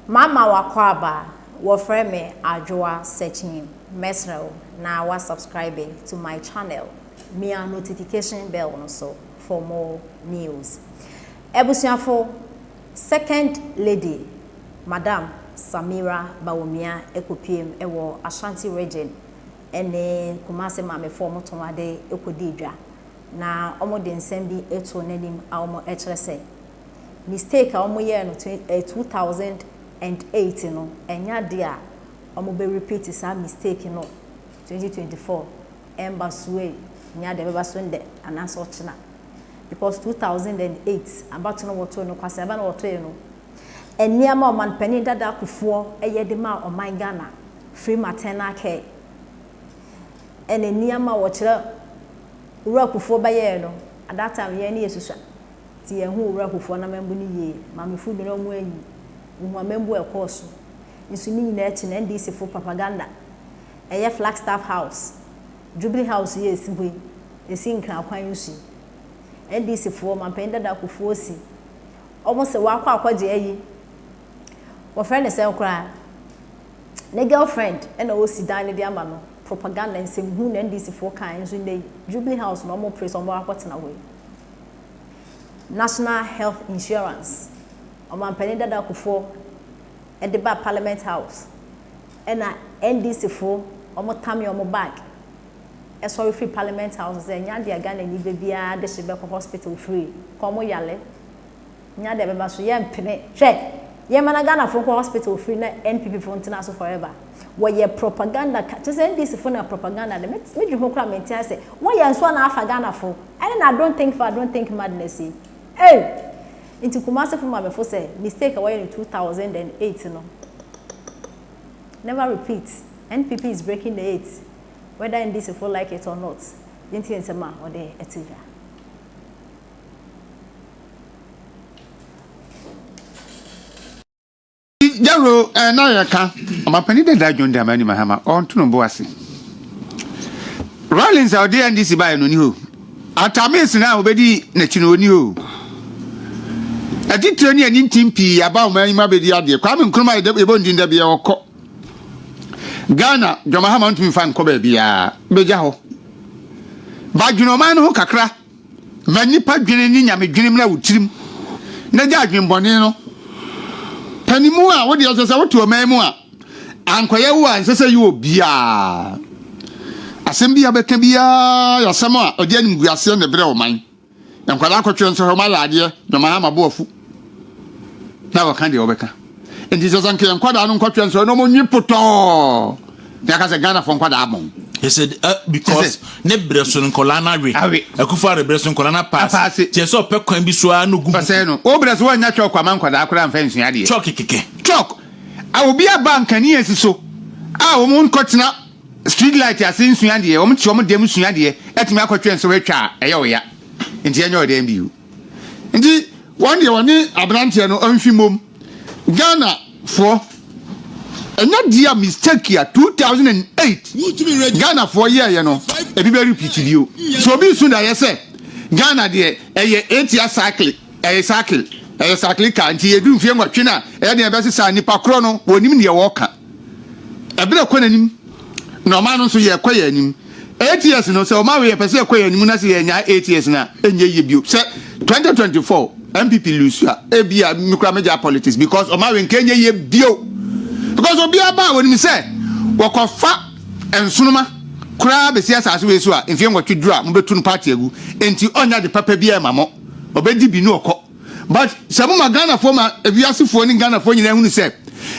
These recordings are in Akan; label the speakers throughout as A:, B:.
A: Mama w'akwaaba, wɔfrɛ me Adwoa Sekyim, mɛsrɛ wo na wa subscribe to my channel, mia notification bell no so for more news. Abusuafo, Second Lady, Madam Samira Bawumia ɛkɔpuem wɔ Ashanti Region ɛne Kumasi Maamefoɔ mo tɔn ade kɔdii dwa na wɔde nsɛm bi too n'anim a wɔkyerɛ sɛ, mistake a wɔn yɛɛ no twen ɛɛ two thousand and eight no ɛnyɛ adeɛ a wɔn bɛ repeat saa mistake no twenty twenty four ɛmba so ei nyɛ adeɛ ɛbɛba so ndɛ anaa sɛ ɔkyena because two thousand and eight abato no wɔtoo no kwasea bɛ na wɔtoeɛ no nneɛma ɔman panin dada akufoɔ ɛyɛ de maa ɔman Ghana free maternal care ɛna nneɛma wɔkyerɛ wura akufoɔ bɛyɛɛ no at that time yɛn ani yɛ susua. te yɛn ho Owura Kufuor na mambu no yie, Maame Fudu na ɔmo anyi wo ho a mambu a ɛkɔɔ so nso ne nyinaa akyi no NDC foɔ propaganda ɛyɛ Flagstaff House, Jubilee House yi a ɛsi hɔ yi ɛsi Nkran kwan nso yi NDC foɔ Ɔmanpanin Dada Kufuor si ɔmo sɛ wakɔ akɔgye ayi wɔfrɛ no sɛn koraa ne girl friend ɛna ɔsi dan no de ama no propaganda nsɛmhunu na NDC foɔ kaeɛ nso nnɛ yi Jubilee House na ɔmo pere sɛ ɔmo akɔtena hɔ yi. National Health Insurance, Ɔmanpanin Dada Kufuor de baa Parliament House ɛna NDC fo wɔn tame wɔn bag sɔre firi Parliament House sɛ ɛnyɛ adeɛ a Ghanani ba biara de hye bɛkɔ hospital free kɔm yale Nya deɛ ɛbɛba so yɛ mpene. Hwɛ yɛ ma na Ghana fo nkɔ hospital free na NPP fo ntena so forever. Wɔ yɛ propaganda ka kyerɛ sɛ NDC fo na propaganda de. Me dwe ho koraa me nte ase. Wɔ yɛ nso ana afa Ghana fo. Ɛne na don't think far don't think madness yi. Ei! Nti Kumasi fo ma me fo sɛ mistake a wɔ yɛ no 2008 no never repeat. NPP is breaking the eight whether NDC fo like it or not. Yɛ ntie nsɛm a ɔde to dwa.
B: Jaro eh, na yɛ ka ɔmapani dada John Dramani Mahama ɔnto no bo ase Rollins a ɔde NDC baeɛ no ni hɔ Atamis no a ɔbɛdi n'akyi no ɔni hɔ atitire ne ani ntim pii aba ɔman yi mu abɛdi adeɛ Kwame Nkrumah yɛbɔ ndin da biara ɔkɔ Ghana John Mahama ntumi fa nkɔ baabiara bɛgya hɔ badwene ɔman no ho kakra Fa nnipa dwene ne nyamedwene mmra wo tirim, na gya adwemmɔne no. Panimu a wo deɛ ɔsɛ sɛ wote ɔman mu a ankɔyɛ wo a ɛnsɛ sɛ yɛ obiara. Asɛm bi a bɛka biara yɛ asɛm a ɔde animguaseɛ na ɛbrɛ ɔman. Nkwadaa kɔtwerɛ nsɔhwɛ ɔma yɛ adeɛ na ɔma ha ma bo afu. na wɔka deɛ wɔbɛka nti sɛ sɛ nka nkwadaa no nkɔtwɛ nsɔre na ɔmɔnwi potɔɔ na aka sɛ ghanafoɔ nkwadaa abɔn he said uh,
C: because ne brɛ so nkɔlaa no awe awe akufa re brɛ so nkɔlaa no apaase tiɛ sɛ ɔpɛ kwan bi so a no gu ɔsɛe no wo brɛ so woanya
B: chalk ama nkɔdaa koraa mfa nsua adeɛ chalk kɛkɛ chalk a obi aba nkanea si so a wɔn nkɔtena street light ase nsua deɛ wɔn te wɔn dɛm nsua deɛ atumi akɔtwɛn so atwa a ɛyɛ ɔya nti ɛnyɛ ɔdɛn bio Nti wɔn deɛ wɔne aberanteɛ no mfi mmom. Ghana foɔ ɛnyɛ dia mistake a 2008 Ghana foɔ yɛɛyɛ no ebi bɛ repeat bio. So obi su da yɛ sɛ Ghana deɛ ɛyɛ etia cycle ɛyɛ cycle ɛyɛ cycle car nti yɛduru mfie nwɔtwe na ɛyɛ deɛ ɛbɛsesa nipa korɔ no wɔnim deɛ wɔka. Ɛberɛ kɔ n'anim na ɔman no nso yɛkɔ yɛn anim. Eight years no sɛ ɔman wei yɛpɛ sɛ yɛkɔ yɛn anim na sɛ yɛnyae eight years no a ɛnyɛ yie bio. Sɛ twenty twenty four NPP lose a ebia me koraa mɛgyae politics because ɔman wei nka ɛnyɛ yie bio because obiara ba a wɔnim sɛ wɔkɔfa nsoroma koraa bɛsi asase wei so a mfeɛ nwɔtwe duru a mobɛtu no party agu enti ɔnyɛ ade papa biara ma mo ɔbɛdi bi ne ɔkɔ. But sɛ mo ma Ghana foɔ ma ewiase foɔ ne Ghana foɔ nyinaa hunu sɛ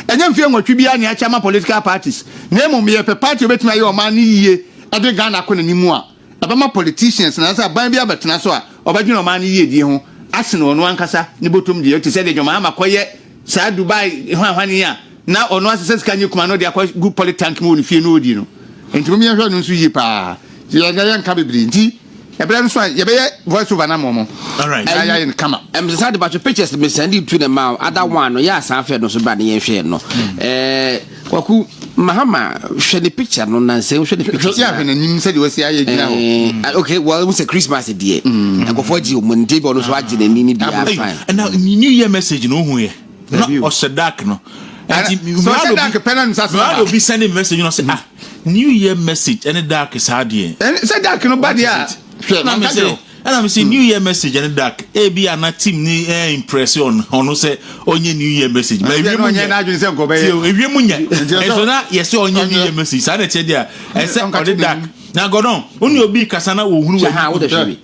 B: ɛnyɛ mfeɛ nwɔtwe biara na yɛakyɛ ama political parties na mmom yɛpɛ party a obetumi ayɛ ɔman no yie de Ghana akɔ n'anim mu a, ɛbɛma politicians anaasɛ aban bi abɛtena so a ɔbɛdwene ɔman no yiedie ho asene ɔno ankasa ne bɔtɔm deɛ te sɛ deɛ John Mahama kɔyɛ Saa Dubai hwanhwan yi a na ɔno asesa sika nyɛ kuma no de akɔ gu poly tank mu wɔ ne fie no ɔdi no nti mom yɛnhwɛ no nso yie paa yɛnka yɛnka bebree nti ɛberɛ nso a yɛbɛyɛ voice over no ama ɔmo na yɛayɛ no
C: kama ɛmsɛ
B: saa de batwe pictures
D: me sɛnde tu ne ma ada one no yɛ asan fɛ no so bra ne yɛnhwɛ no ɛɛ Kwaku Mahama hwɛ ne picture no nansa hwɛ ne picture. Sɛ ahwɛ n'anim sɛ de wasi
B: ayɛ gyina hɔ. Eh, okay, well, sɛ Christmas
D: deɛ. Mm. Nkɔfɔ gye wɔn nti bɔ no so agye n'ani ne
C: bi afa.
D: Ɛna
C: New
D: Year
C: message
D: no
C: ohun yɛ. Na ɔhyɛ
D: dark
C: no. Ɛti
B: ɔhyɛ dark pɛ na nsa so. Mmaa obi send message no
C: sɛ ah New Year message ɛne dark saa deɛ. Ɛne sɛ dark no ba deɛ
B: a hwɛ na mɛ sɛ.
C: Ɛna me sɛ new year message ɛne dark ebi a na team ne ɛ eh, impress on ɔno sɛ ɔnyɛ new year message ba ewie mu nyɛ
B: tie o ewie mu nyɛ
C: ɛnso na yɛsɛ ɔnyɛ new year message saa na ɛkyɛ deɛ ɛsɛ ɔde dark na gɔdɔn ɔne obi kasa na wɔhunu wɔ ha wodɛ hwɛ bi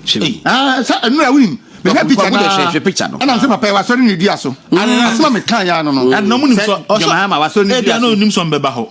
D: hwɛ bi
B: ah sɛ ɛnu na wunim mehwɛ picture no hwɛ picture no ɛna sɛ papa wasɔre ne dua so asoma me kan ya no no ɛna mu nim sɔ ɔsɔ
C: jama ma wasɔre ne
B: dua so ɛna onim sɔ mbɛba hɔ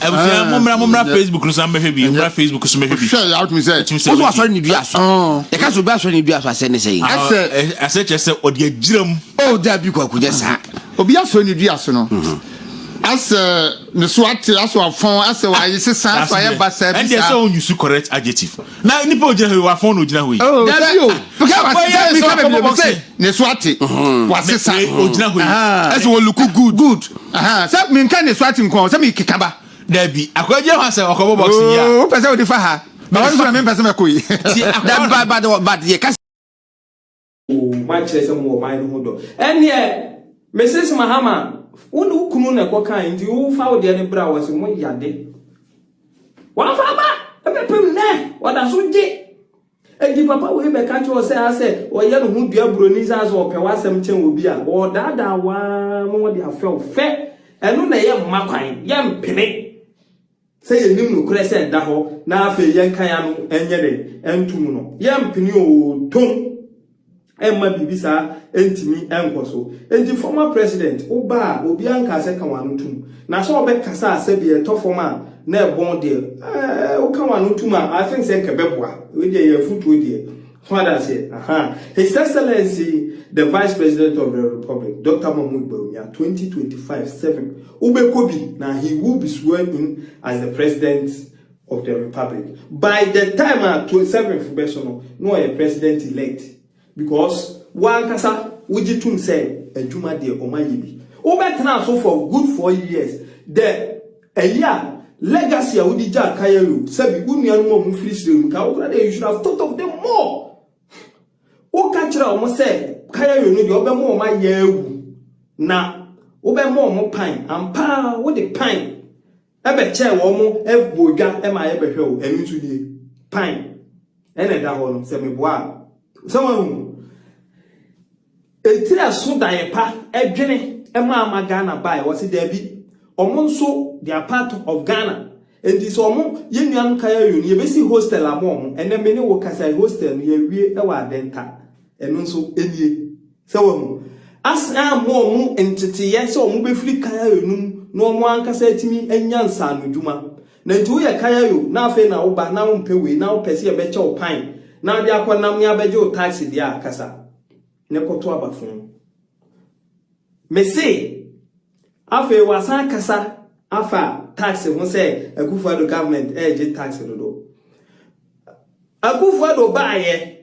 D: abusua mommra mommra
C: facebook no so mbɛhwɛ bi mommra facebook so mbɛhwɛ bi hwɛ yɛ awotumi sɛ wotumi sɛ
B: woso asɔre ne dua so
D: yɛka sɛ obi asɔre ne dua so asɛ ne sɛ ɛsɛ ɛsɛ kyerɛ
C: sɛ ɔde agyira mu o da bi kwaku
D: nyɛ saa obi asɔre ne dua
B: so no asɛ ne so ate asɛ wafɔn asɛ wayɛ sesa asɛ wayɛ basa bi saa ɛnde sɛ ɔnyusu correct
C: adjective Na nipa ogyina hɔ yi wafɔn na ogyina hɔ yi. Oh, dabi o. Because
B: I see that Mika baby baby say ne so ate. Mm-hmm. Wase sa. Ogyina hɔ yi.
C: Ɛsɛ wɔ look
B: good. Good. Aha. Sɛ Mika ne so ate nko sɛ Mika kaba. Dabi. Akwa
C: gyina hɔ asɛ ɔkɔbɔ box yi a. Oh, pɛsɛ odi fa ha.
B: Ba wɔn so na me pɛsɛ mɛ koi. Ti akwa. Dabi ba
D: ba ba yɛ kasi. O,
E: moakyerɛ sɛ mowɔ ɔman no ho dɔ. Ɛnneɛ, Misis Mahama, wo ne wo kunu na ɛkɔkae, nti wo fa wo deɛ no bra. Wɔse moyɛ ade. Wɔamfa aba! Ɛbɛpem nnɛ, wɔda so gye. Enti papa wei bɛka kyerɛ wo sɛ asɛ ɔyɛ ne ho dua buroni sɛ asɛ ɔpɛ w'asɛm kyɛn obi a, ɔredaadaa wo ara ma wɔde afrɛ wo fɛ. Ɛno na ɛyɛ mma kwan. Yɛmpene. Sɛ yɛnim nokorɛ sɛ ɛda hɔ na afei yɛnkan ano nyɛ dɛn nto mu no, yɛrempene oo, tom mma biribi saa ntumi nkɔ so. Enti former president wo ba a obiara nkaa sɛ ka w'ano tom, na sɛ ɔbɛkasa a sɛbi ɛtɔ fam a na ɛbɔn deɛ, eh, woka w'ano tom a, I think sɛ nka ɛbɛboa. Wei deɛ ɛyɛ afotuo deɛ. Ho adanseɛ aha His Excellency the Vice President of the Republic, Doctor Mahmoud Bawumia, twenty twenty five seven Wobɛkɔ bi na he will be sworn in as the President of the Republic. By the time a twenty seven fo bɛso no, na ɔyɛ President elect because wo ankasa wogye tom sɛ adwuma deɛ wɔayɛ bi. Wobɛtena so for good four years. The Ɛyɛ a, legacy a wode gyaa kan awu. Sɛbi, wo nuanom a wɔfiri srɛ mu kaa wo koraa dɛ you should have thought of them more. Woka kyerɛɛ wɔn sɛ kan awu no deɛ wobɛma wɔn ayɛ awu na wobɛma wɔn pan. Ampa ara wode pan bɛkyɛɛ wɔn bɔɔ dwa ma yɛbɛhwɛ wo. Ɛno nso nie. Pan ɛna ɛda hɔ no sɛ meboa a. Sɛ woahu. Etiri ɛso daeɛ pa ɛdwene ɛma ama Ghana baeɛ wɔse daabi wɔn nso they are part of Ghana nti sɛ wɔn yɛn nuanom Kayayoo no yɛbɛsi hostel ama wɔn ɛnɛ me ne wo kasa yi hostel no yɛawie ɛwɔ Adenta ɛno nso ɛnie sɛ wahu asan ama wɔn nteteeɛ sɛ wɔn bɛfiri Kayayoo no mu na wɔn ankasa atumi anya nsaanodwuma Na enti woyɛ kayayo na afei na woba na wompɛ wei na wopɛ sɛ yɛbɛkyɛ wo pan na wode akɔ nam ne abɛgye wo tax deɛ a kasa ne kɔto aba fon. Mese afei wasan akasa afa tax ho sɛ Akufo-Addo government ɛregye tax dodo. Akufo-Addo baayɛ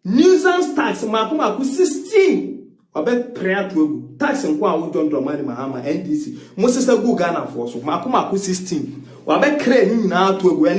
E: Nuisance tax mmaako mmaako 16 wɔbɛpre ato agu. Tax nko a wo John Dramani Mahama, NDC, mo sesa guu Ghanafoɔ so mmaako mmaako 16 wɔabɛkre ne nyinaa ato agu. Ɛne.